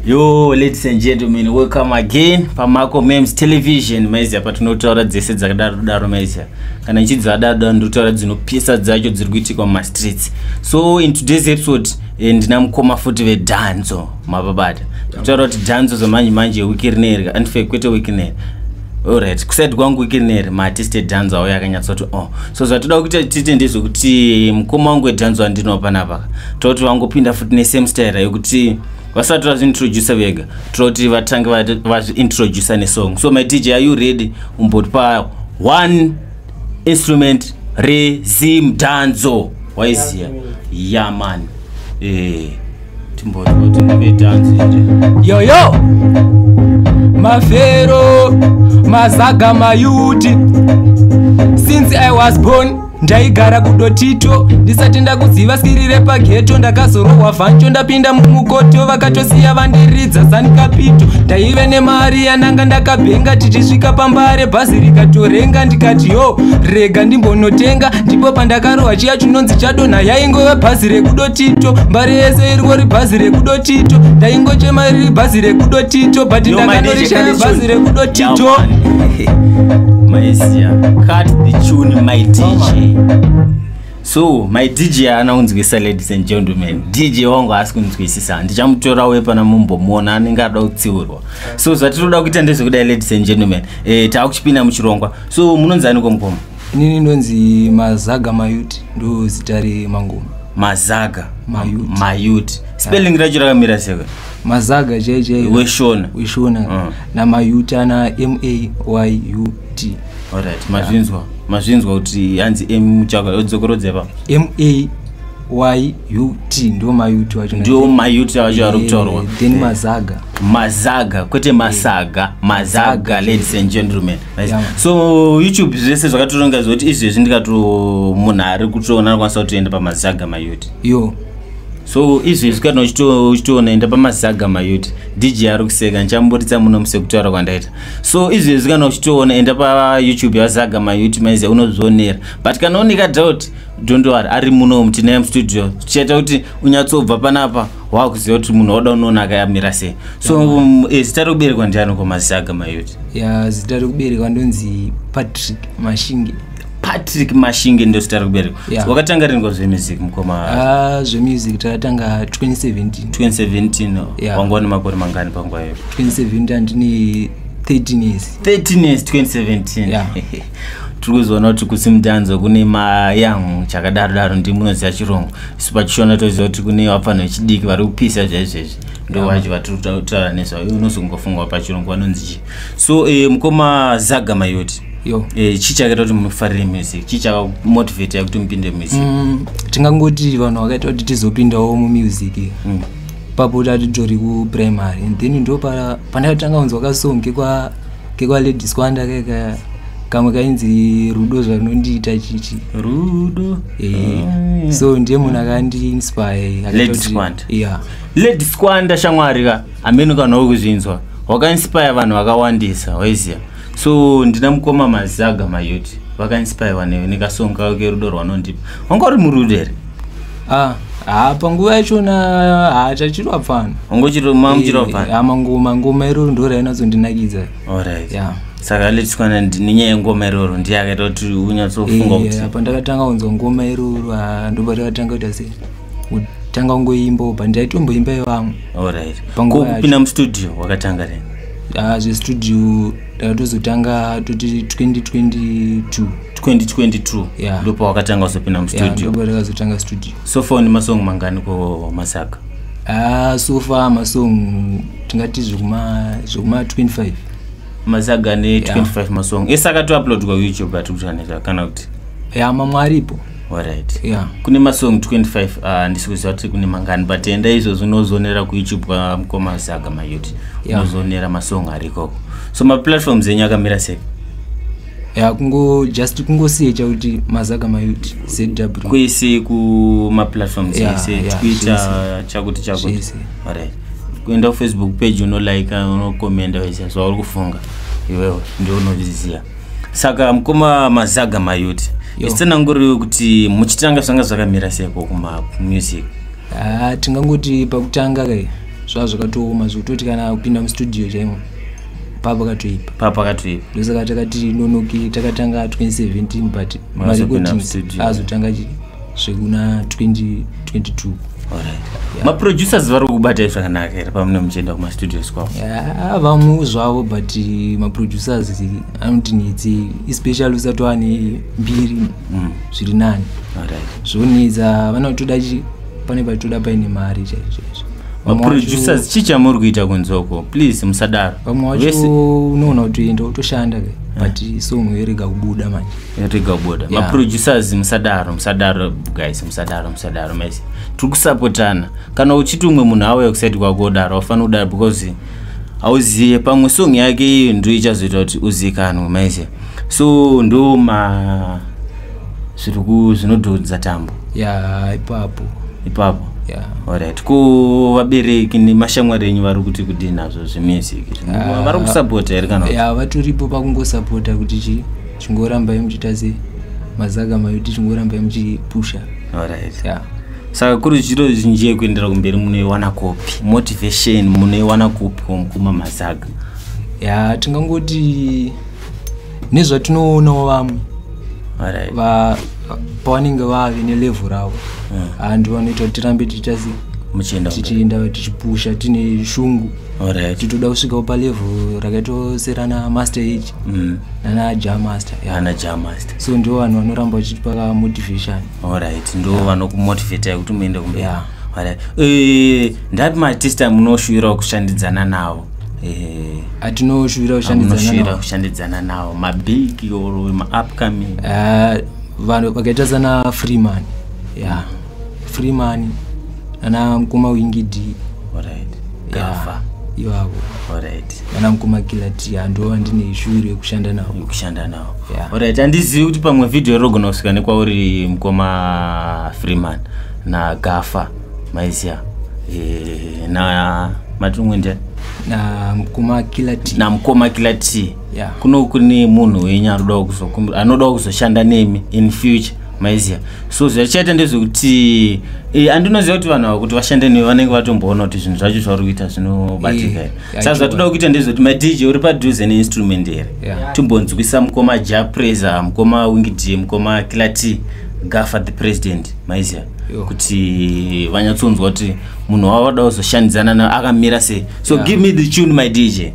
yo ladies and gentlemen welcome again pamako mems television maiziya patinotaura dzese dzakadaro daro maiziya kana ichidzadaro daro ndotaura dzinopisa dzacho dziri kuitikwa mumastreets so in today's episode eh, ndina mukoma futi vedanzo mapabata tokutaura kuti danzo zamanje manje wiki rineri andife kwete wiki rineri Alright, kuside kwangu ikineri maartist edhanzwa auya akanyatsoti o oh. so zvatoda kuti tiite ndezvekuti mukoma wangu edhanzwa ndinoo panapaka toti vangopinda futi nesame style yekuti vasati vazviintroducer vega toti vatange vazviintroducer nesong so my dj are you ready umbotipa one instrument rezim dhanzo waiziya yamani yeah, eh. yoyo mafero mazaga mayuti since i was born ndaigara kudotito ndisati ndakuziva skiri repageto ndakazorohwa vancho ndapinda mumukoto vakatosiya vandiridza zanikapito ndaive nemari yananga ndakabhenga tichisvika pambare bhazi rikatorenga ndikati yo rega ndimbonotenga ndipo pandakarohwa chiya chinonzi chadonha yaingove bhazi rekudoti tito mbari yese iriko ribhazi rekudo tito ndaingochema riri bhazi rekudo tito but ndakanorishaya bhazi rekudo tito maizia cut the tune my dj so my dj ana kunzwisa ladies and gentlemen dj wangu haasi kunzwisisa ndichamutora uye pana mumbomuona anenge ada kutsiurwa so zvatinoda kuita ndezvekudai ladies and gentlemen e, eh, taakuchipinda muchirongwa so munonzaniko mukoma inini ndonzi mazaga mayut ndo zita remangoma mazaga mayut, mayut. spelling yeah. racho rakamira seka mazaga chai chai weshona weshona uh. Mm. namayut ana m a y u t alright mazvinzwa yeah. mazvinzwa kuti hanzi m chaka yodzokorodza pa m a y u t ndo mayut wacho ndo mayut wacho ari kutaurwa then mazaga mazaga kwete masaga mazaga ladies and gentlemen Nice. Yeah. so youtube zvese zvakatoronga zvekuti izvezvi ndikato munhu ari kutoona anokwanisa kutoenda pamazaga mayuti yo so izvezvi kana uchito- uchitoona enda pamazaga mayuti dj ari kuseka ndichamburitsa muno musekutaura kwandaita so izvezvi kana uchitoona enda payoutube yazaga mayuti maize unozvionera but kana unika doubt don't worry ari muno tinaye mustudio tichaita kuti unyatsobva panapa wakuziva kuti munhu wada unoona akayamira sei so um, eh, zita rekuberekwa ndiani komazisaga mayoti ya zita rekuberekwa ndonzi patrick mashinge patrick mashinge ndo zita rekuberekwa yeah. wakatanga riniko zvemusic mukoma uh, zvemusic takatanga 2017 2017 yeah. wanga wane makore mangani panguva iyo 2017 andine 13 years 13 years 2017 yeah. tiri kuzoona kuti kusimdanzo kune mayangu chakadaro daro ndi munoziva chirungu isu pachishona toziva kuti kune vafanhu vechidiki vari kupisa zvaizvezvi ndo vacho vatiri kutaura nezvavo iwe unozongofungwa pachirungu vanonzi chii so eh, mukoma zaga mayoti yo eh, chii chakaita kuti mufarire music chii chakamotivate yakuti mupinde music Mm, tingangoti vanhu vakaita kuti tizopindawo mumusic Mm. papo tatitori kuprimary and then ndo pa- pandakatanga kunzwa kasong kekwa kekwalady squanda keka kamwe kainzi rudo zvanondiita chichi rudo eh, ah. so ndiye munhu akandiinspire lady squanda yeah. lady squanda shamwari ka amene ukanhau kuzvinzwa wakainspire vanhu vakawandisa waiziva so ndina mukoma mazaga mayoti vakainspirwa nekasonga kerudo rwanondipa wanga uri murudo here Ah, ah, panguva yachona haachachirwa pfana ungochiromamchirwa pfana Eh, ah, mangoma ngoma iroro ndo rainatsondinakidza alright ya saka let's kwana nenyaya yengoma iroro ndiye akaita kuti unyatsofunga kuti Eh, apa ndakatanga kunzwa ngoma iroro ah, ndoba ndakatanga kuita se kutanga kungoimba upa ndaitomboimba yevamwe alright Panguva ko yacho. kupinda mustudio wakatanga rini Ah, zvestudio tatozotanga toti 2022 2022 yeah. ndopa wakatanga kuzopinda mustudio yeah, takazotanga studio so far une masong mangani ko masaka ah, so far masong tingati zvekuma 25 masaga ne 25 yeah. masong esaka toupload kwayoutube atikutaniza kana kuti ya yeah, mamwe aripo Alright. Yeah. Kune masong 25 uh, ndisikuziva kuti kune mangani but enda izvozvo unozonera kuyoutube kwamukoma uh, saga mayuti yeah. unozonera masong ari ikoko so maplatforms enyu akamira sei ya kungo just kungosiye chakuti mazaga mayut zw kwese kumaplatforms yeah, ese yeah, twitter chakuti chakuti right kuenda kufacebook page unolike unokomenda wese zvauri kufunga iwewe ndio unozviziva saka mukoma mazaga mayuti isitsananguriwe kuti muchitanga zvanga zvakamira seko kumamusic ah, tingangoti pakutanga kai zvava zvakatooma zvekutoti kana kupinda mustudio chaimo papakatoipa papakatoipa ndosaka takati nonoki takatanga 2017 but marecordings azotanga chii zvekuna 2022 maproducers vari kubatai zvakanaka here pamune muchienda kumastudios kwavo vamwe zvavo but eh, maproducers anoti nitsi especially usati wane mbiri mm. zviri nani zvonetsa vanotoda pane paitoda paine mari chaizvoizvo maproducers chii chamuri kuita kunzoko please musadaro vamwe wacho unoona kuti enda utoshanda ke but song yorega kubuda manje yatega kubuda yeah. maproducers musadaro musadaro guys musadaro musadaro mese tiri kusapotana kana uchiti umwe munhu auya kusaiti kwako udaro aufanira kudaro because hauzive pamwe song yake iyo ndo ichazoita kuti uzikanwe mese so ndo ma zviri zvinodhodza tambo ya yeah, ipapo ipapo yeah. orit ko vabereki nemashamwari enyu vari kuti kudii nazvo zvemusic ah. vari kusapota here kana ya vatoripo pakungosapota kuti chii chingorambai muchiita sei mazaga mayuti chingorambai muchipusha alright yeah. saka kuri zviro zvinji yekuendera kumberi munoiwana kupi motivation munoiwana kupi kumukuma mazaga ya tingangoti nezvatinoonawo vamwe right. va, pavanenge vave nelevhu ravo hmm. and vanoita kuti tirambe tichiita sei tichienda tichipusha tine shungu Alright. titoda kusvikawo palevel rakaitawo serana master age Mm. nana ja master yeah. Ana Jah Master. so ndiwo vanhu vanoramba vachitipa ka motivation Alright. Ndo vanokumotivate kuti muende kumberi. Yeah. Alright. Eh, ndapi maartist amunoshuvira kushandidzana nawo? Eh, atinoshuvira kushandidzana amunoshuvira navo. kushandidzana nawo mabig or maupcoming. Ah, vanhu vakaita sana freeman yeah. free money ana mkoma wingidi alright kafa ivavo alright ana mkoma kilati ando andine ishuri yekushanda nawo yekushanda nawo yeah. alright andizivi kuti pamwe video irogona kusvika nekwauri mkoma freeman na gafa maizia e, eh, na matumwende na mkoma kilati na mkoma kilati yeah. kuno kune munhu wenyu anodawo kuzokumbira anodawo kuzoshanda nemi in future maiziva so zvachaita ndezvekuti e, eh, andinoziva kuti vanhu ava kuti vashande newe vanenge vatomboona kuti zvinhu zvacho zvauri kuita zvinobatika eh, here saka zvatoda kuita ndezvekuti madj uri padhuze neinstrument here yeah. timbonzwisa mukoma japresa mukoma wingd mukoma kilati gafa the president maiziva kuti vanyatsonzwa kuti munhu wavada kuzoshandidzana na akamira sei so yeah. give me the tune my dj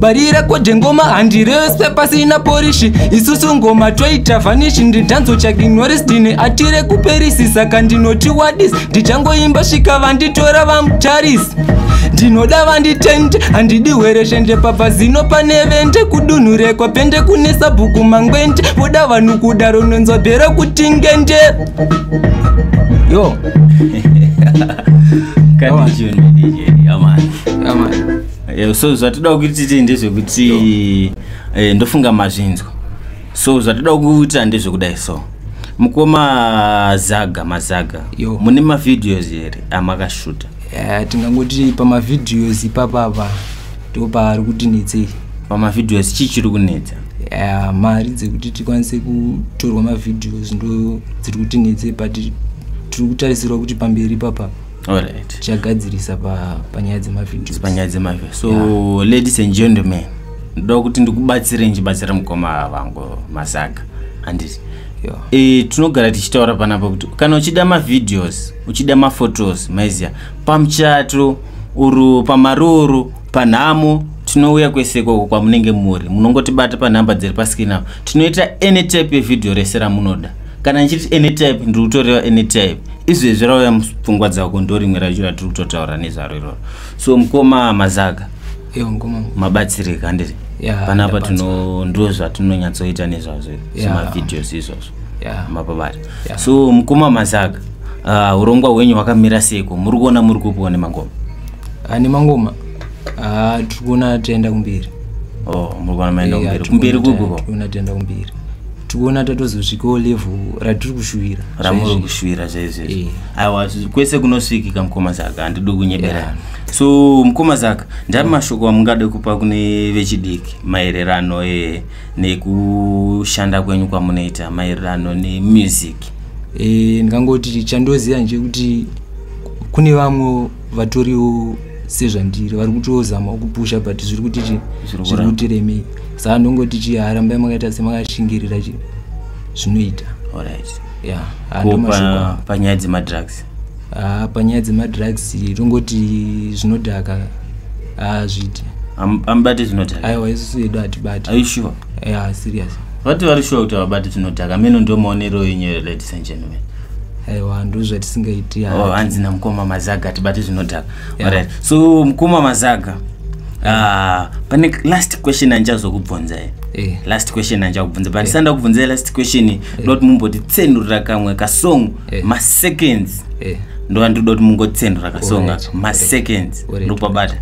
barire kode ngoma handirese pasina porishi isusu ngoma toita vanishi ndidhanzo chakinoris ndine atire kuperisi saka ndinoti wadis ndichangoimba svika vanditora vamutarisi ndinoda vanditende handidi hwereshende pabva zino pane vende kudunhu rekwa pende kune sabhuku mangwende voda vanhu kudaro nonzwa bhero kuti ngende yo Kati juni DJ, amani. Amani. Eh, so zvatida kuti tiite ndezvekuti eh, ndofunga mazvinzwa so zvatida kuita ndezvekudai so mukoma zaga mazaga mune mavideos here amakashuta eh, tingangoti pamavideos ipapapa ndo paari kuti netsei pamavideos chii chiri kunetsa mari dzekuti tikwanise kutorwa mavideos ndo dziri kuti netsei but tiri kutarisirwa kuti pamberi ipapapa alright chagadzirisa pa panyaya dzemavideos panyaya dzemavideos so yeah. ladies and gentlemen ndoda kuti ndikubatsire ndichibatsira mukoma vangu masaga anditi yeah. e, tinogara tichitaura panapa kuti kana uchida mavideos uchida maphotos maiziya pamuchato uru pamaroro panhamo tinouya kwese ikoko kwamunenge muri munongotibata panhamba dziri paskin apo tinoita any type yevideo rese ramunoda kana ndichiti any type ndiri kutoreva any type izvezvi rauya mupfungwa dzako ndo rimwe racho ratiri kutotaura nezvaro iroro so mukoma mazaga mabatsirika handiti panapa tino ndo zvatinonyatsoita nezvazvo semavideos izvozvo mapabata so mukoma mazaga ah, urongwa hwenyu hwakamira seiko muri kuona muri kupiwa nemangoma ah, nemangoma ah, tiri kuona tienda kumberi oh, muri kuona maenda kumberi kumberi kupi ko tikuona tatozosvikawo level ratiri kushuwira ramuri kushuwira zvaizvezvo eh. aiwa kwese kunosvikika mukoma zaka handidi kunyebera so mukoma zaka ndari mm. mashoko amungade kupa kune vechidiki maererano e, nekushanda kwenyu kwamunoita maererano nemusic e, ndingangoti chandoziva nje kuti kune vamwe vatoriwo sezvandiri vari kutozamawo kupusha but zviri kuti chi zviri kuti remei saka ndongoti chi harambai makaita semakashingirira chi zvinoita panyaya dzemadrugs ah, panyaya dzemadrugs tongoti zvinodhaka hazviiti ah, amubati zvinodhaka aiwa isusu yedu hatibati aishuwa ya serious vati vari shuwa kuti havabati zvinodhaka mino ndomaonero yenyu ladies and gentlemen aiwa ndozvatisingaiti oh, hanzi namukoma mazaga tibati zvinodhaka yeah. right. so mukoma mazaga uh, pane last question andichazokubvunza e eh. last question andichakubvunza but eh. ndisanda yeah. kubvunza last question eh. ndoti yeah. mumbotitsenurira kamwe kasong yeah. maseconds yeah ndova ndiri doti mungotsendura kasonga maseconds ndokubabata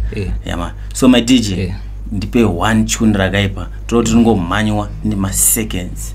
yama so my dj yeah. ndipe one tune rakaipa toti tingomhanywa nemaseconds yeah.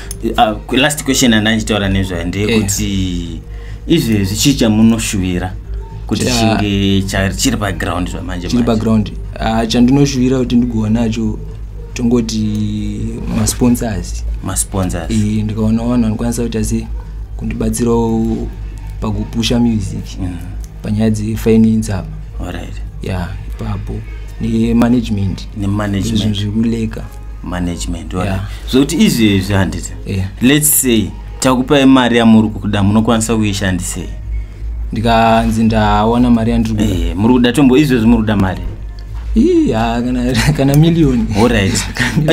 uh, last question andandichitaura nezvayo ndeyekuti yeah izvezvi chii chamunoshuvira kuti chinge chiri paground zvamanje chiri paground ah, chandinoshuvira kuti ndigova nacho tongoti masponsors masponsors e, ndikaona vanhu vanokwanisa kuita se kundibatsirawo pakupusha music mm. panyaya dzefinance apa right. ya yeah, ipapo nemanagement nemanagement zvinhu zvikuleka management yeah. zvokuti izvi izvi handiti yeah. lets say takupai mari yamuri kuda munokwanisa kuishandisei ndikanzi ndawana mari yandiri kuda eh, muri kuda tombo izvezvi muri kuda mari kana millioni orit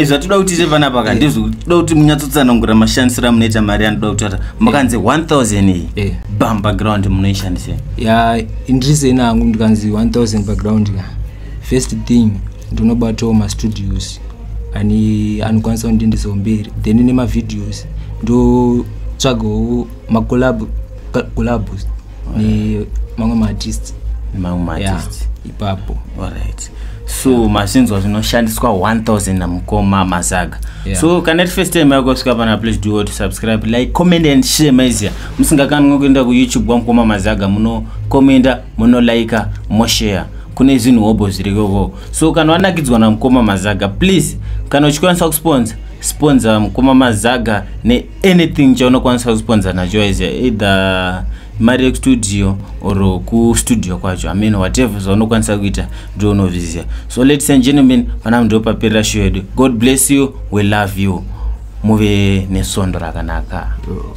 zvatoda kuti ite panapa ka eh. ndizvotoda kuti munyatsotsanangura mashandisiro amunoita mari yanoda kutata makanzi 1000 iyi eh. bam background munoishandisa ya ndiriseni angu ndikanzi 1000 background ka first thing ndinobatawo mastudios ani anokwanisa kundiendesawo mberi then nemavideos ndotsvagawo macolab collabs nemamwe maartists mamwe maartists ipapo alright so yeah. masinzwa zvinoshandiswa 1000 namukoma mazaga yeah. so kana ri first time yako svika pana please do to subscribe like comment and share maizia musingakanwe kuenda kuyoutube wamukoma mazaga muno commenta muno likea moshare kune zvinhu hobho zvirikovo so kana wanakidzwa namukoma mazaga please kana uchikwanisa kusponsa sponsa mukoma mazaga neanything chaunokwanisa kusponsa nacho as either mari yekustudio or kustudio kwacho amen whatever zvaunokwanisa kuita ndo unoviziva so ladies and gentlemen pana ndo paperera show yedu god bless you we love you muve nesondo rakanaka oh.